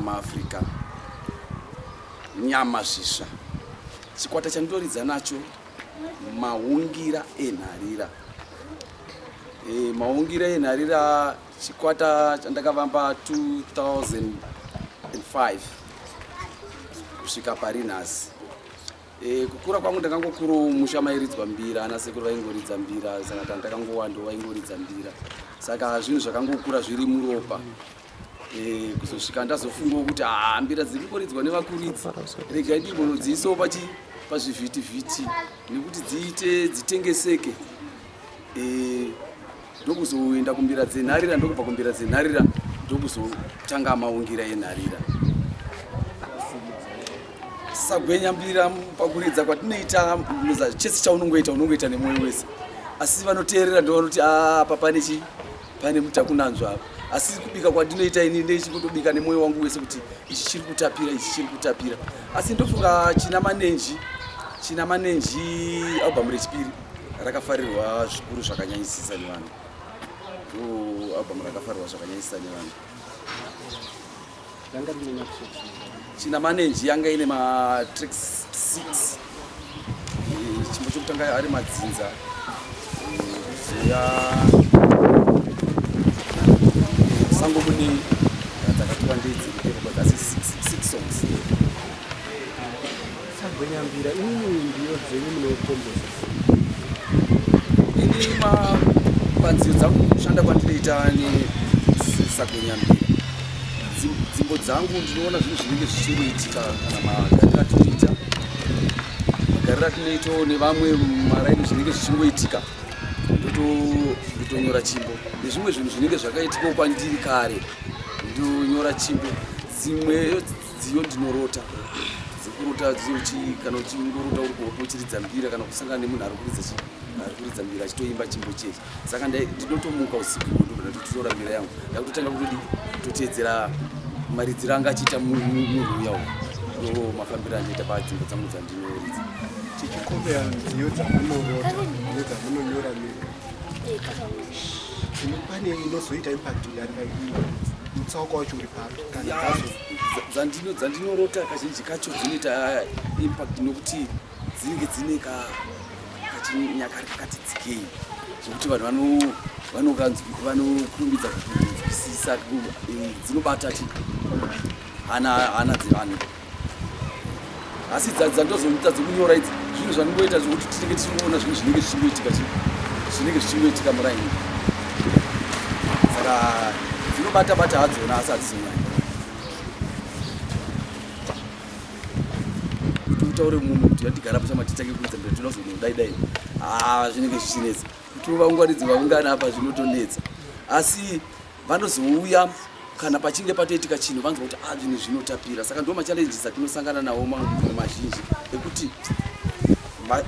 maafrica nyama zvisva chikwata chandoridza nacho maungira enharira Maungira enharira chikwata chandakavamba 2005 kusvika pari nhasi. E, kukura kwangu ndakangokuro musha mairidzwa mbira ana sekuru vaingoridza mbira saka tandakangowandiwo vaingoridza mbira saka zvinhu zvakangokura zviri muropa Eh, kuzosvika ndazofungawo kuti haa mbira dziri kungoridzwa nevakuridzi regai ndimbonodziisawo pachi pazvivhitivhiti nekuti dziite dzitengeseke eh, ndokuzoenda kumbira dzenharira ndokubva kumbira dzenharira ndokuzotanga maungira enharira sagwenya mbira pakuridza kwatinoita chese chaunongoita unongoita nemwoyo wese asi vanoteerera ndovanoti apa ah, pane chii pane mutakunanzva apa asi kubika kwandinoita ini ndeichikutobika nemwoyo wangu wese kuti ichi chiri kutapira ichi chiri kutapira asi ndofunga china manenji china manenji albhamu rechipiri rakafarirwa zvikuru zvakanyanyisisa nevanhu albhamu rakafarirwa zvakanyanyisisa nevanhu china manenji yanga ine matrix 6 eh, chimbo chokutanga ari madzinza zouya sango mune dzakatiwa ndedziri dzasi 6 songs Sagwenyambira inini ndiyo dzenyu munokomboza ini panziyo dzangu kushanda kwandinoita nesagwenyambira dzimbo dzangu ndinoona zvinhu zvinenge zvichingoitika kana magariro atinoita magariro atinoitawo nevamwe maraini zvinenge zvichingoitika ndotonyora chimbo nezvimwe zvinhu zvinenge zvakaitikawo kwandiri kare ndonyora chimbo dzimwe dziyo ndinorota dzikurota dziuchi kana uchingorota uri kuhope uchiridza mbira kana kusangana nemunhu ari kuridza chi ari kuridza mbira achitoimba chimbo chechi saka ndinotomuka usiku ndototora mbira yangu ndakutotanga kutodi toteedzera maridziro anga achiita munhu uya u ndo mafambiro andiita padzimbo dzangu dzandinoridza chichikombeya nziyo dzamunorota nedzamunu pane inozoita impact mutsauko wacho uri papi dzandinorota kazhinji kacho dzinoita impact nokuti dzinenge dzine kachinyakari kakati dzikei zvekuti vanhu vanokurumbidza kuisisa dzinobata ti hana dzevanhu asi dzadzi dzandozoita dzekunyora idzi zvinhu zvaningoita zvekuti tinenge tichingoona zvinhu zvinenge zvichingoitika zvinenge zvichingoitika muraini saka dzinobata bata hadzona asi hadzizonyanya kuti utaure munhu kuti yatigara pachama titange kuita mberi tinoda kuzoita kudai dai haa ah, zvinenge zvichinetsa kuti uvaunganidzi vaungana apa zvinotonetsa asi vanozouya kana pachinge patoitika chinhu vanzwa kuti a ah, zvinhu zvinotapira saka ndo machallenges atinosangana nawo maunhu mazhinji ekuti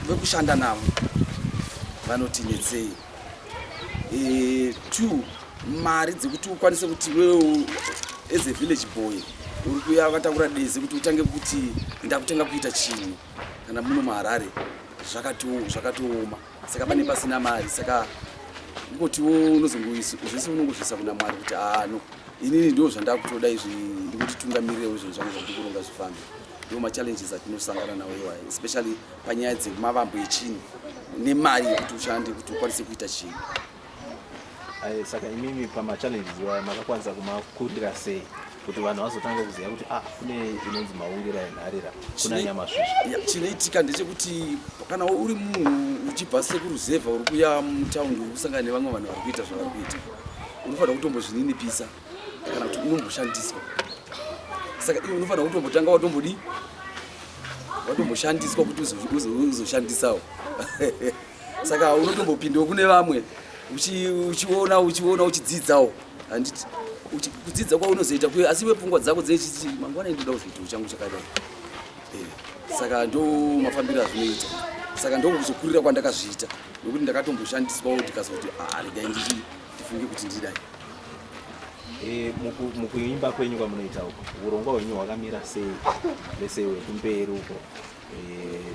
vekushanda navo vanoti netsei e, two mari dzekuti ukwanise kuti wewo as a village boy uri kuya vataura deze kuti utange kuti ndakutanga kuita chinhu kana muno maharare zvakatooma saka pane pasina mari saka ngotiwo unozongozvese unongozvisa kuna mwari kuti ano inini ndo zvandakutoda izvi ndikutitungamirewo izvo zvangu zvandikuronga zvifambe ndo machallenges atinosangana nawo iwayo especially panyaya dzemavambo echinhu nemari yekuti ushande kuti ukwanise kuita chinhu Aye, saka imimi pamachallenges iwaya makakwanisa kumakurira sei kuti vanhu vazotanga kuziva kuti ah kune inonzi maungira enharira kuna nyamasvizva chinoitika ndechekuti kana uri munhu uchibva sekuruzevha uri kuya mutaundi uri kusangana nevamwe vanhu vari kuita zvavari kuita unofanira kutombozvininipisa kana kuti unomboshandiswa saka iwe unofanira kutombotanga watombodii watomboshandiswa kuti uzoshandisawo saka unotombopindawo kune vamwe uchiona uchiona uchidzidzawo handiti kudzidza kwaunozoita kuyo asi iwe pfungwa dzako dzechiti mangwana indoda kuzoitawo changu chakadai eh, saka ndo mafambiro azvinoita saka ndokuzokurira kwandakazviita nokuti ndakatomboshandiswawo ndikazoti ah, regai ndii ndifunge kuti ndidai eh, mukuimba kwenyu kwamunoita uko urongwa hwenyu hwakamira sei vese wekumberi uko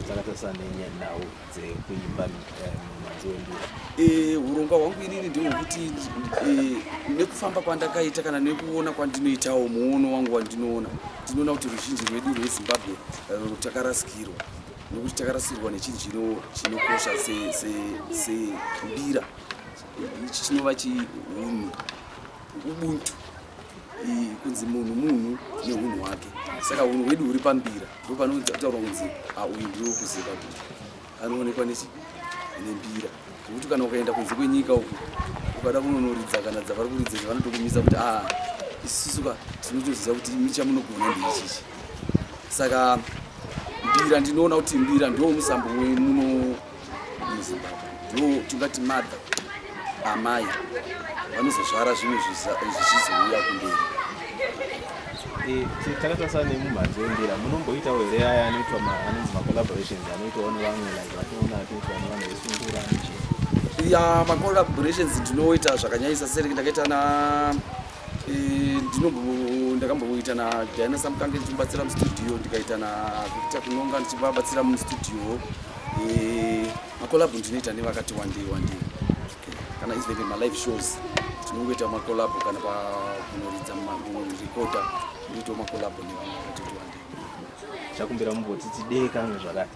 dzakatarisa nenyanhau dzekuimba eh, mumhanzi wembira eh, urongwa hwangu inini ndihwo kuti eh, nekufamba kwandakaita kana nekuona kwandinoitawo muono wangu wandinoona ndinoona kuti ruzhinji rwedu rwezimbabwe takarasikirwa nekuti takarasikirwa nechinhu chinokosha sembira chinova chiunhu ubuntu kunzi munhu munhu neunhu hwake saka unhu hwedu huri pambira ndo panotaurwa kunzi auyu ah, ndiwo kuziva kuti anoonekwa nembira nokuti kana ukaenda kunze kwenyika uku ukada kunonoridza kana dzavari kuridza izvi vanotokumisa kuti a ah, isisuka tinotoziva kuti michamunogona ndeichichi saka mbira ndinoona kuti mbira ndo musambo wemuno muzimbabwe ndiwo tingati madha amai vanozozvara zvimwe zvichizouya kumberi eh, takatarisa nemumhanzi wembira munomboitawo here aya anoitwa anonzi macollaborations anoitawo nevamwe like vatoona atoitwa nevanhu vesungura ya macollaborations ndinoita zvakanyanyisa seri ndakaita na ndakamboita nadiana samukange ndichimubatsira mustudio ndikaita navictor kunonga ndichivabatsira mustudio makolabhu ndinoita nevakati wandei wandei kana izveve malive shows tinongoita makolabhu kana pakunoridza recorda ndoitawo makolabhu nevamwe vakati wandei chakumbira mumbotiti dee kange zvakati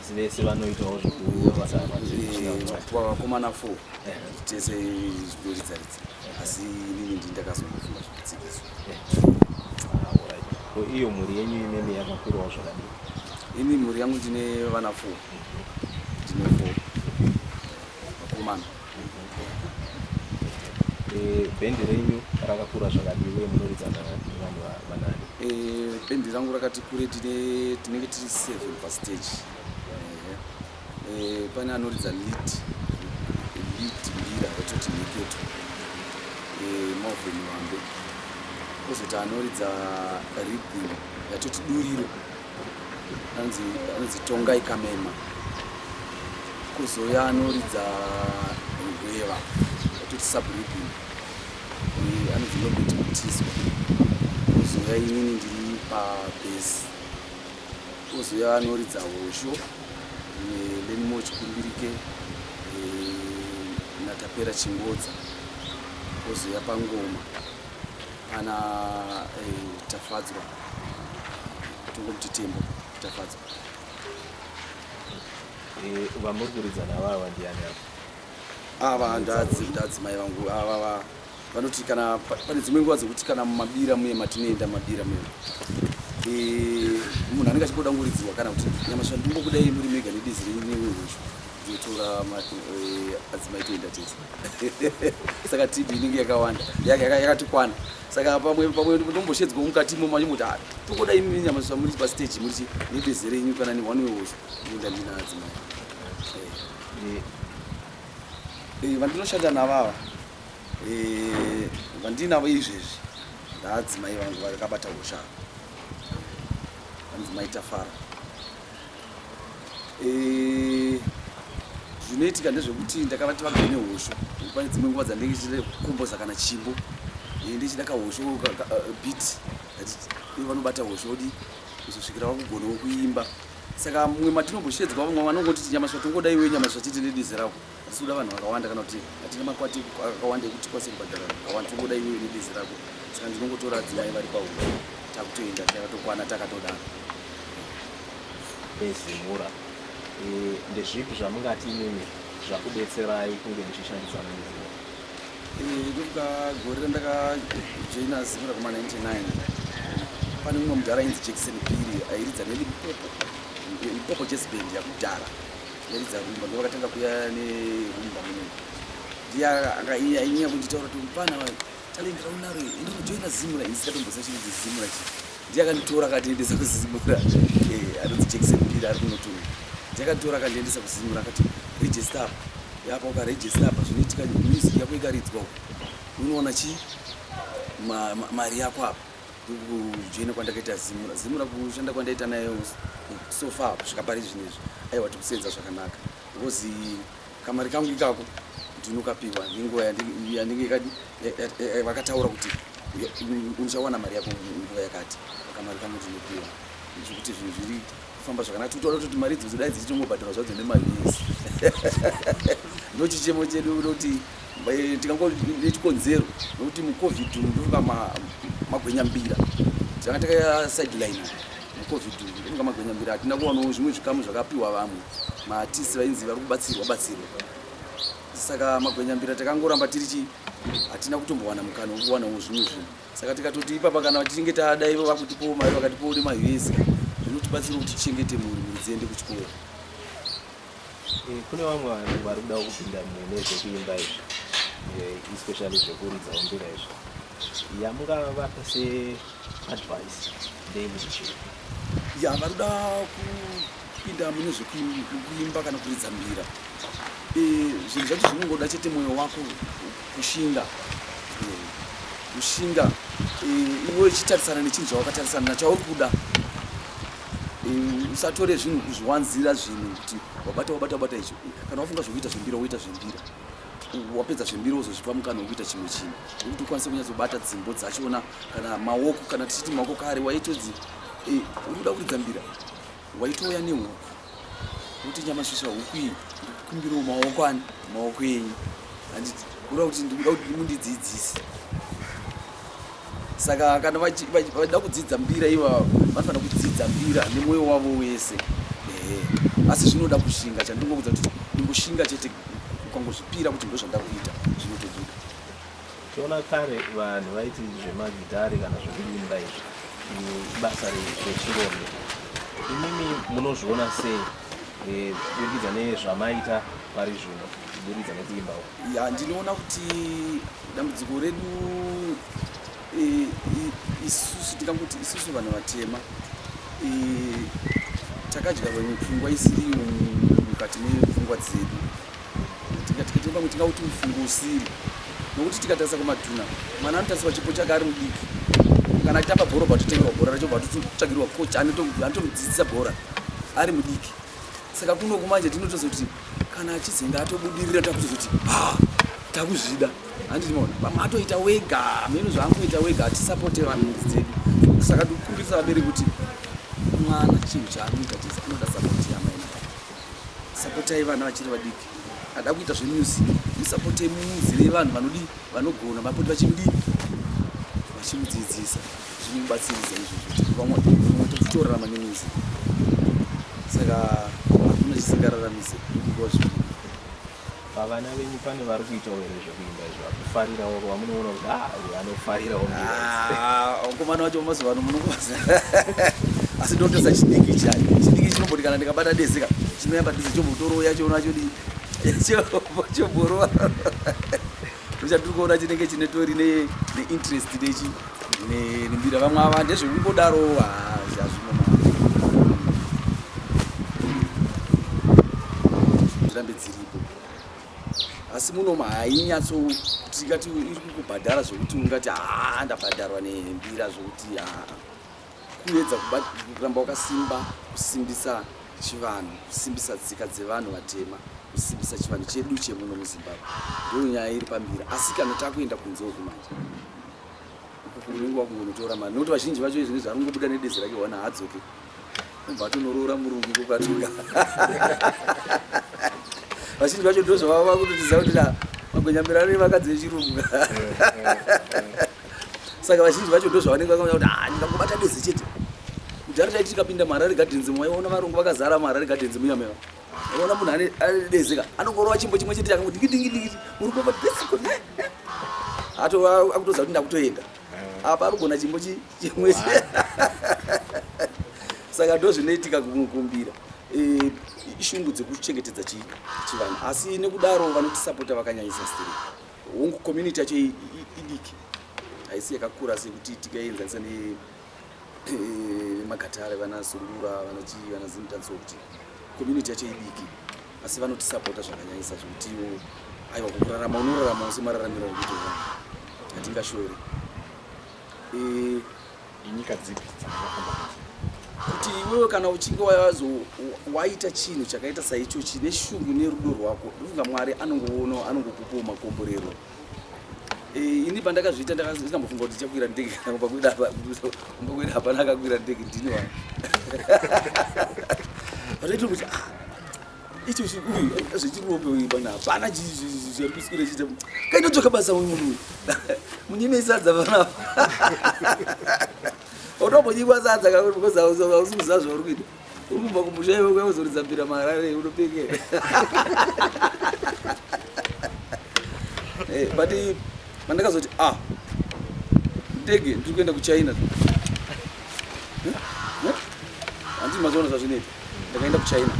asi vese vanoitawo zvekubasa vakomana fo tese zvidoridzaridza asi inini ndi ndakazongofunga zvekutsikisa iyo mhuri yenyu imene yakakurawo zvakadii ini mhuri yangu ndine vana fo ndine fo vakomana Eh, bhendi renyu rakakura zvakadii uye munoridza nevanhu vanani eh, bhendi rangu rakati kure tinenge tiri seven pastage eh, pane anoridza lit lit mbira vatoti miketo moveni wambe kozoti anoridza ridhim yatoti duriro anonzi anonzi tongai kamema kuzouya anoridza rweva atoti sabridi anonzi nobert mutiso kuzouya inini ndiri pabhesi kuzouya anoridza hosho lenimo chikumbirike natapera chingodza kuzouya pangoma Ana eh, Tafadzwa tongomuti Tembo Tafadzwa. Eh, vamuri kuridzana avava ndiani ava ava ndadzi ndadzi mai vangu avava vanoti kana pane dzimwe nguva dzekuti kana mumabira muye matinoenda mabira muye eh, munhu anenge achingotanguridzirwa kana kuti nyamasha ndingokudai muri mega nedizi renyu newe hweshu totora eh, adzimai toenda tese saka tv inenge yakawanda yakatikwana saka pamwe pamwe ndomboshedzwa mukati imomo achimoti ah, tokoda imi nyama zvamuri pastage muri nebeze renyu kana neone way was kuenda ndina adzimai eh. Eh, vandinoshanda navava vandinavo izvezvi ndaadzimai vangu vakabata ushava vanzi maitafara Eh, zvinoitika ndezvekuti ndakavati vagare nehosho pane dzimwe nguva dzandenge chichida kukomboza kana chimbo eh, ndichida kahosho eh, bit ivo vanobata hosho odi kuzosvikira vakugonawo kuimba saka mumwe matinombosheedzwa vamwe vanongotiti nyamaswa tongoda iwe nyamaswa titi nedizirako asi kuda vanhu vakawanda kana kuti hatina makwati akawanda ekuti kwase kubhadhara vakawanda tokuda iwewe nebezi rako saka ndinongotora adzimai vari pahuda takutoenda takatokwana takatodana ezimura eh, ndezvipi zvamungati imimi zvakubetserai kunge muchishandidzana nezimura ndokuda eh, gore randakajoina zimura kuma 99 pane mumwe mudhara ainzi jackson biri airidza nelipopo lipopo chesband yakudhara yaridza rumba ndovakatanga kuya nerumba muno ndiya ainyanya kunditaura kuti mupana talendera unaro ende kujoina zimura ini sikatombosa chiri kuti zimura chi ndiye akanditora akandiendesa kuzimura eh, anonzi jackson pira ari kunotunga ndiye akanditora akandiendesa kuzimura akati register apa yapa ukaregister apa zvinoitika music yako ikaridzwa unoona chii mari yako apa kujoina kwandakaita zimura zimura kushanda kwandaita naye so far kusvika pari zvinhu izvi aiwa tikusenza zvakanaka because kamari kangu ikako ndinokapiwa nenguva yanenge kadi vakataura kuti uchawana mari yako nguva yakati kamari kangu ndinopiwa zvekuti zvinhu zviri kufamba zvakanaka tikutoda kuti mari idzo dzodai dzichitongobhadhara zvadzo nemavhisi ndochichemo chedu kuti Eh, tikango nechikonzero nokuti mucovid umu ndofunga magwenyambira tanga takasideline mucovid umu ndofunga magwenyambira hatina kuwanawo zvimwe zvikamu zvakapiwa vamwe matisi vainzi vari kubatsirwa batsirwa saka magwenyambira takangoramba tiri chi hatina kutombowana mukana wokuwanawo zvimwe zvinhu saka tikatoti ipapa kana vatichinge tada ivo vakutipowo mari vakatipowo nemahivesi zvinotibatsira kuti tichengete mhuri mhuri dziende kuchikoro Eh, kune vamwe vanhu vari kuda kupinda mune zvekuimba izvi eh, especially zvekuridza umbira izvo yamungavapa seadvice ndeyekuzichii ya vari kuda kupinda mune zvekuimba kana kuridza mbira eh, zvinhu zvacho zvinongoda chete mwoyo wako kushinga kushinga iwe uchitarisana nechinhu chawakatarisana nachauri kuda usatore zvinhu kuzviwanzira zvinhu kuti wabata wabata wabata icho kana wafunga zvekuita zvembira woita zvembira wapedza zvembira wozozvipa mukana wekuita chimwe chinhu nekuti ukwanise kunyatsobata dzimbo dzachona kana maoko kana tichiti maoko kare waitodzi eh, uri kuda kuridza mbira waitouya nehuku kuti nyamasvisa huku iyi ndikumbirawo maoko ani maoko enyu handiti kuda kuti ndikuda kuti mundidzidzise saka kana vachida kudzidza mbira ivavo vanofanira kudzidza mbira nemwoyo wavo wese ehe asi zvinoda kushinga chandingokuudza kuti ndingoshinga chete ukangozvipira kuti ndozvandakuita zvinotobuda Toona kare vanhu vaiti zvemagitare kana zvekuimba izvi ibasa rechirondo. Imimi munozviona sei eh, kuburikidza nezvamaita pari zvino kuburikidza nekuimba uku? Ya, ndinoona kuti dambudziko redu eh, i- isusu tingakuti isusu vanhu vatema eh, takadyarwa mipfungwa isiriyo mukati mepfungwa dzedu tikatikatei pamwe tingauti mufungo usiri nokuti tikatarisa kumadhuna mwana anotarisirwa chipo chake ari mudiki kana achitamba bhora batotengerwa bhora racho batotsvagirwa coach anotomudzidzisa bhora ari mudiki saka kuno kumanje tinotozoti kana achizenge atobudirira takutozoti ha takuzvida handiti maona pamwe atoita wega meno zvaangoita wega hatisapote vanhu mudzi dzedu saka tikukumbirisa vabereki kuti mwana chinhu chaanoita chese anoda sapoti yamai Sapotai vana vachiri vadiki ada kuita zvemusic musapotei muzivei vanhu vanodii vanogona vapoti vachimudii vachimudzidzisa zvinomubatsiridza izvozvo vamwe totorarama nemusic saka hakuna chisingararamisi nekuva zvii Pavana venyu pane vari kuita here zvekuimba izvo vakufarira wako vamunoona kuti ah uyu anofarira wamkomana ah, wacho mazuva ano munokoza asi ndotesa chidiki chai chidiki chinomboti kana ndikabata dezeka chinoyamba dese chombotorooya choonacho chomborova Ndochatiri kuona chinenge chine tori neinterest nechi nembira vamwe ava ndezvekungodaro hazvino dzirambe dziripo asi muno hainyatso tikati iri kukubhadhara zvekuti ungati haa ndabhadharwa nembira zvekuti haa kuedza kuramba wakasimba kusimbisa chivanhu kusimbisa tsika dzevanhu vatema kusimbisa chivanhu chedu chemuno muzimbabwe ndiyo nyaya iri pambira asi kana takuenda kunze uku manje unenge wakungonotora mari nokuti vazhinji vacho izvi nezvaanongobuda nedezi rake wana hadzoke ubva atonoroora murungu kokatuka vazhinji vacho ndozvavava vakutotiza kuti magwenyamirano evakadzi vechirungu saka vazhinji vacho ndo zvavanenge vakaona kuti ah, ndikangobata deze chete kudhara taiti tikapinda muharare gardens mwaiona varungu vakazara muharare gardens muyameva ona munhu ane dezeka anongorova chimbo chimwe chete akango dingidingidingidi muri kuva desiko eh, eh. atova akutoza kuti ndakutoenda eh. apa arugona chimbo chimwe saka ndo zvinoitika kumukumbira ishungu dzekuchengetedza chivanhu asi nekudaro vanotisapota vakanyanyisa stirika Hongu community yacho idiki haisi yakakura sekuti tikaienzanisa nemagatare eh, vana sungura vana chii vana zimtanso kuti community yacho idiki asi vanotisapota zvakanyanyisa zvekutiwo aiwa kukurarama unorarama use mararamiro ekuti hatingashore eh, inyika dzipi dzakafamba kuti iwewe kana uchinge wazo waita chinhu chakaita saicho chine shungu nerudo rwako ndofunga mwari anongoona anongokupawo makomborero eh, ini pandakazviita ndakambofunga kuti ndichakwira ndege kana kumba kweda kumba kweda hapana akakwira ndege ndini wa vatoita kuti ah icho uyu zvechiruombe uyu pana hapana zvakusikira chiita kainotoka basa uyu munhu uyu munyime isadza panapa unombonyikwa sadza kakuri because hausi kuziva zvauri kuita uri kubva kumusha iwe kuya kuzoridza mbira maharare unopenge eh, but mandakazoti ah ndege ndiri kuenda kuchina handi mazoona zvazvinoita ndakaenda kuchina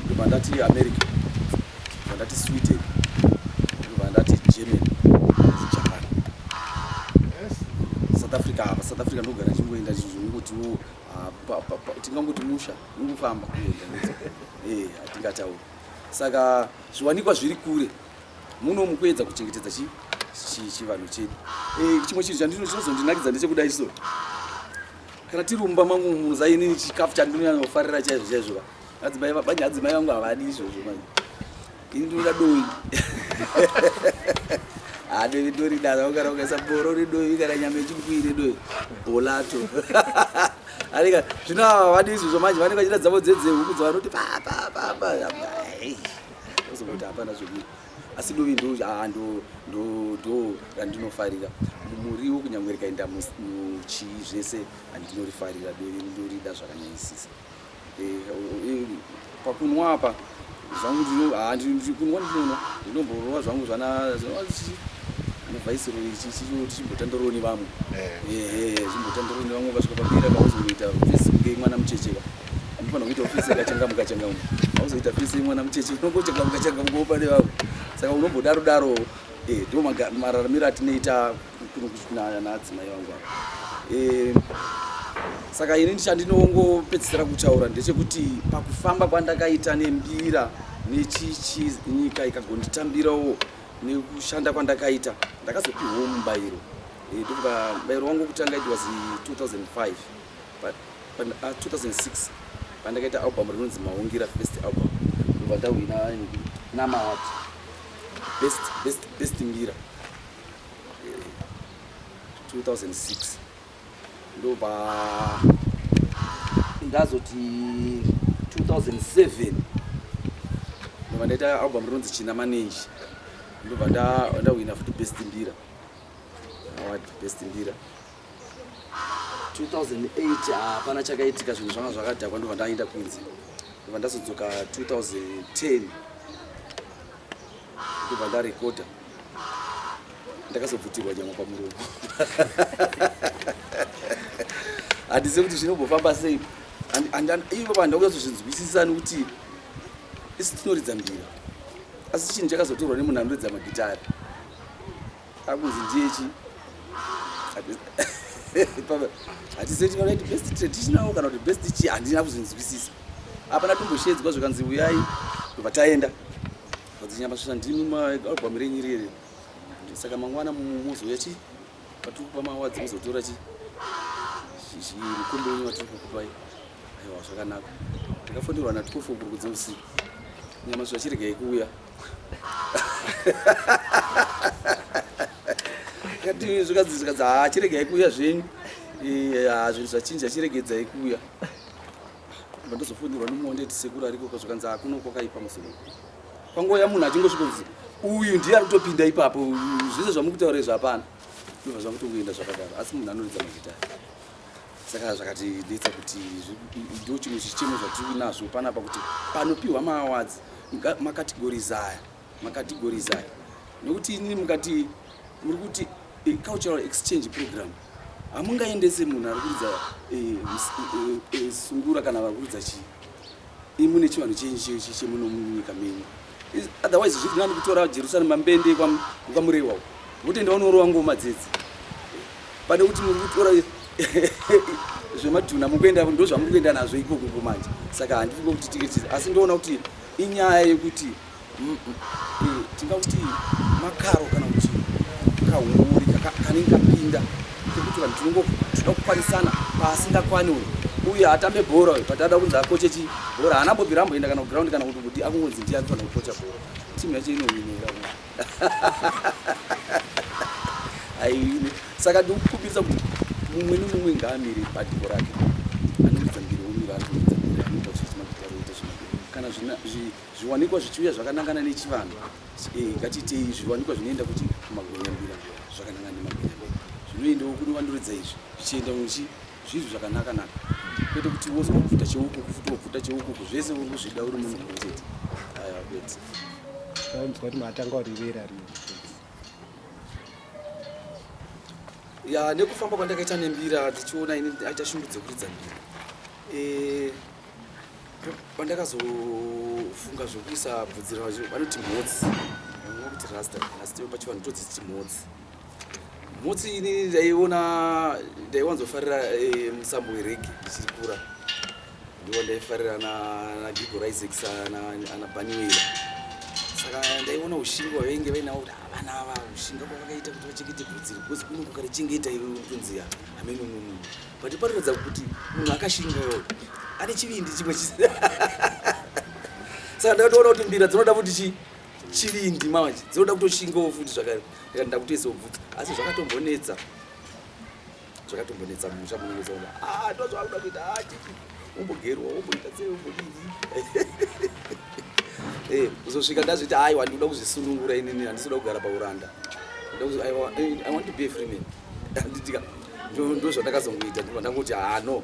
ndobva ndati america ndobva ndati sweden ndobva ndati germany ndati japan south africa apa south africa ndogara chingoenda chinzongotiwo ah, tingangoti musha ungofamba kuenda ee eh, hatingatauri saka zviwanikwa zviri kure muno mukuedza kuchengetedza chii chivanhu chedu eh, chimwe chinhu chandinozondinakidza ndechekudai so kana tiri mumba mangu muza inini chikafu chandinonyanya kufarira chaizvo chaizvo va adzimai vabanye adzimai vangu havadi izvozvo manje ini ndinoda doyi hadovi toridana ukana ukaisa boro redoyi kana nyama yechipwii redoyi bolato anika zvino havadi izvozvo manje vanenge vachida dzavo dzedzehuku dzavanoti papapapa ozongoti hapana zvekuita asi dovi ndo ah, ndo ndo ndo randinofarira muriwo kunyange rikaenda muchii zvese andinorifarira dovi ndorida zvakanyanyisisa eh, eh, pakunwa apa zvangu ndikunwa ah, ndinono ndinomborova zvangu zvana vaisiroi chichimbotandoroni vamwe eh. eh, eh, chimbotandoroni vamwe vasvika papera vauzoita vese kunge mwana muchecheka Anofanira kuita ofisi yakachangamuka changamuka. Hauzoita ofisi mwana mucheche unongochangamuka changamuka upane vavo. Saka unombodaro daro eh ndio mararamiro atinoita kuno kuchina naadzimai vangu ava. Eh saka ini chandinongopedzisira kutaura ndechekuti pakufamba kwandakaita nembira nechichi nyika ikagonditambirawo nekushanda kwandakaita ndakazopihwawo mubayiro eh, ndokuba mubayiro wangu wokutanga it was 2005 Pa, pa, uh, 2006 pandakaita album rinonzi Maungira First Album ndobva ndahwina namaward best, best, best mbira 2006 eh, ndobva ndazoti 2007 ndobva ndaita album rinonzi china manenji ndobva ndahwina futi best mbira award best mbira 2008 hapana chakaitika zvinhu zvanga zvakadhakwa ndobva ndaenda kunze ndobva ndazodzoka 2010 ndobva ndarekodha ndakazobvutirwa nyama pamuromo handizive kuti zvinombofamba sei ivo vanhu ndakunyazozvinzwisisa nekuti isi tinoridza mbira asi chinhu chakazotorwa nemunhu anoridza magitari akunzi ndiye chi hatiseti vakaiti best traditional kana kuti best chi handina kuzvinzwisisa apana tumboshedzwa zvikanzi uyai ndobva taenda vadzinyamasusa ndimi maalbum renyu irere saka mangwana muzouya chi patiri kupa mawadzi muzotora chi mukombe wenyu watiri kukupai aiwa zvakanaka ndakafonerwa natikofokurukudza usiku nyamasusa chirega yekuuya kati zvikadzi zvikadzi haa chiregai kuuya zvenyu haa zvinhu zvachinja chiregedzai kuuya ndozofundirwa nomuonde ti sekuru ariko ko zvikanzi hakuno kwakaipa musoro kwangoya munhu achingosvika kuti uyu ndiye ari kutopinda ipapo zvese zvamuri kutaura izvi hapana ndobva zvakutongoenda zvakadaro asi munhu anoridza mazita saka zvakatinetsa kuti ndo chimwe chichemo zvatiri kuinazvo panapa kuti panopiwa maawards makategories aya makategories aya nokuti inini mukati muri kuti eh, cultural exchange program hamungaendese munhu ari kuridza eh, eh, sungura kana vari kuridza chii imune chivanhu chenyu chemunomunyika menyu otherwise zviri nani kutora Jerusalem mambende kwa kwa murewa votenda vanorowa ngoma dzedzi pane kuti muri kutora zvemadhuna mukuenda ndo zvamuri kuenda nazvo ikoko ko manje saka handiri kuti tiketi asi ndoona kuti inyaya yekuti tingakuti makaro kana kuti kahuori kanenge kapinda Tekuti vanhu tinongoda kukwanisana paasingakwani uyu uye hatambe bhora uyu but ada kunzi akoche chi bhora haana bobi ramboenda kana kuground kana kuti kuti akungonzi ndiye anofana kukocha bhora timu yacho inohwinira aihwine saka ndikukumbirisa kuti mumwe nemumwe ngaamire badiko rake anokuita mbiri omira anokuita mbiri anoita zvichina kuti aroita zvina kana zvina zvi Zviwanikwa zvichiuya zvakanangana nechivanhu eh, ngatiitei zviwanikwa zvinoenda kuti kumagwenyambira zvakanangana nemagwenyambira zvinoendawo kune vandoridza izvi zvichienda uchi zvinhu zvakanakanaka kwete kuti wozwa kupfuta cheukuku futi wopfuta cheukuku zvese uri kuzvida uri munhu mumwe chete aiwa kwete tainzwa kuti matanga urivera ri ya nekufamba kwandakaita nembira dzichiona ini aita shungu dzekuridza mbira eh, pandakazofunga zvokuisa bvudzi racho vanoti mhotsi vamwe kuti rasta asi teo pachivanhu todziti mhotsi mhotsi ini ndaiona ndaiwanzofarira eh, musambo werege ndichiri kura ndiwo ndaifarira nagigo risex ana baniwela saka ndaiona ushinga wavainge vainawo kuti havana ava ushinga kwavakaita kuti vachengete bvudzi ribhozi kuno kukarichengeta iwe ukunziya hamenununu but panoratidza kuti munhu akashingawo ane chivindi chimwe chisi saka ndakatoona kuti mbira dzinoda futi chi chivindi manje dzinoda kutoshingawo futi zvakare ndikati ndakutoisawo bvudzi asi zvakatombonetsa zvakatombonetsa musha munonetsa kuti a ah, ndozvaakuda kuita a ah, chii umbogerwa umboita sei umbodii eh, kuzosvika ndazviti aiwa ndikuda kuzvisunungura inini handisi kuda kugara pauranda i want to be a free man ndanditika ndozvandakazongoita ndobva ndangoti hano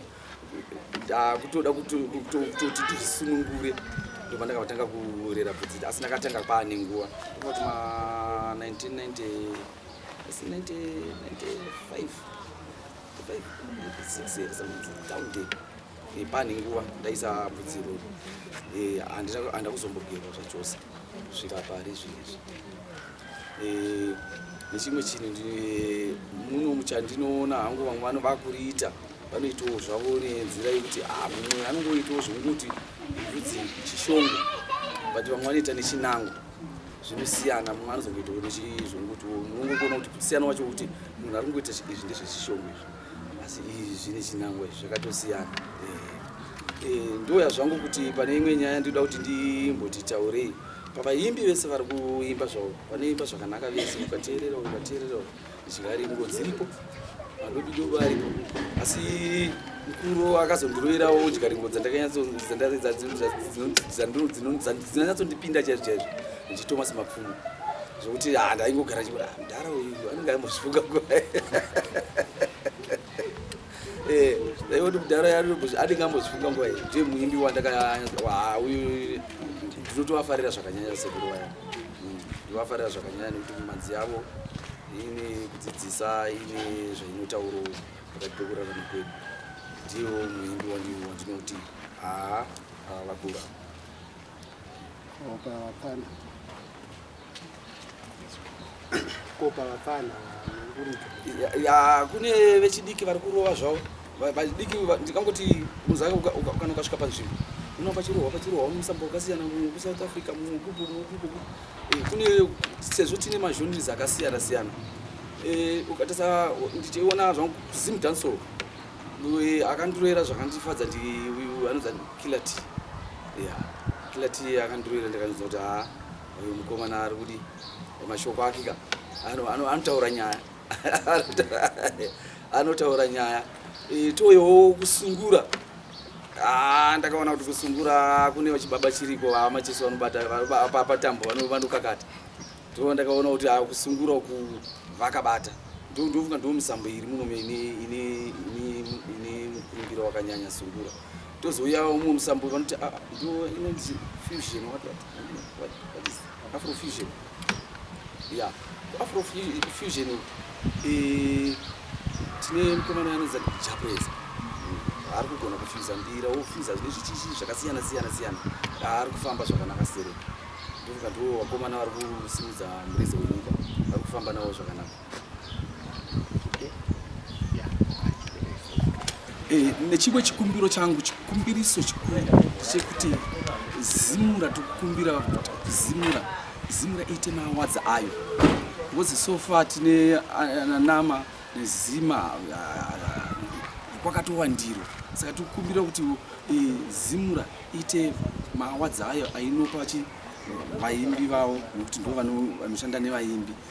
ndakutoda kutoti ndisunungure ndobva ndakavatanga kurera bvudzi asi ndakatanga kwaane nguva ndobati ma 1995 pane nguva ndaisa bvudzi iroro eh, handina kuzombogerwa zvachose svika pari zvinezvi nechimwe chinhu muno muchandinoona hangu vamwe vano vakuriita vanoitawo zvavo nenzira yekuti ah, mumwe anongoitawo zvokuti kuti chishongo but vamwe vanoita nechinango zvinosiyana mumwe anozongoitawo nechizvokuti unongoona kuti kusiyana wacho kuti munhu ari kungoita izvi ndezvechishongo izvi asi izvi zvine chinango izvi zvakatosiyana eh, eh, ndoya zvangu kuti pane imwe nyaya ndinoda kuti ndimbotitaurei Pavaimbi vese vari kuimba zvavo vanoimba zvakanaka vese ukateerera ukateerera zvingaringo dziripo vanobido varipo asi mukuru akazondiroerawo udyaringo dzandakanyatsodzanyatsondipinda chaizvo chaizvo ndichitomas mapfumo zvekuti ah, ndaingogara chimudhara ah, uyu anenge aimbosvuka Eh, dai kuti mudhara yarobos andingambozifunga nguva iyi ndiye muimbi wandakauyu ndinotovafarira zvakanyanya sekuru vaya hmm, ndivafarira zvakanyanya nekuti mumanzi yavo ine kudzidzisa ine zvainotauro pakati pekurarama kwedu ndiyo muimbi wandinoti haa vakura ya kune vechidiki vari kurova zvavo vadiki ndingangoti muzake kana ukasvika panzvimbo uno pachirohwa pachirohwa unomisa mbo wakasiyana mumwe kusouth africa mumwe kupo mumwe kupo eh, kune sezvo tine mazhonris akasiyana siyana eh, ukatasa ndichiona zvangu zim dancehall eh, akandiroera zvakandifadza ndi uyu anonzi kilati ya kilati akandiroera ndikanyudza kuti haa uyu mukomana ari kudi mashoko ake ka anotaura nyaya anotaura nyaya e, toyowo kusungura ah, ndakaona kuti kusungura kune vachibaba chiriko vamacheso vanobata patambo vanokakata to ndakaona kuti ah, kusungura uku vakabata ndofunga ndo misambo iri muno ine mukurumbiro wakanyanya sungura tozouya umwe musambo vanoti ah, ndo inonzi fusion watwati Afrofusion. Yeah. Afrofusion eh tine mkomana anonzi Japreza. Ari kugona kufuza mbira, ofuza zvine zvichichi zvakasiyana siyana siyana. Ari kufamba zvakanaka sere. Ndoka ndo wakomana vari kusimudza mureza wenyika. Vari kufamba nawo zvakanaka. Eh, nechimwe chikumbiro changu chikumbiriso chikuru chekuti zimura tikukumbira kuti zimura zimura iite mawadzi ayo ngozi sofa tine ananama eh, nezima eh, kwakatowandiro saka tikukumbira kuti zimura iite mawadzi ayo ainopa chi vaimbi vavo nekuti ndo vanoshanda nevaimbi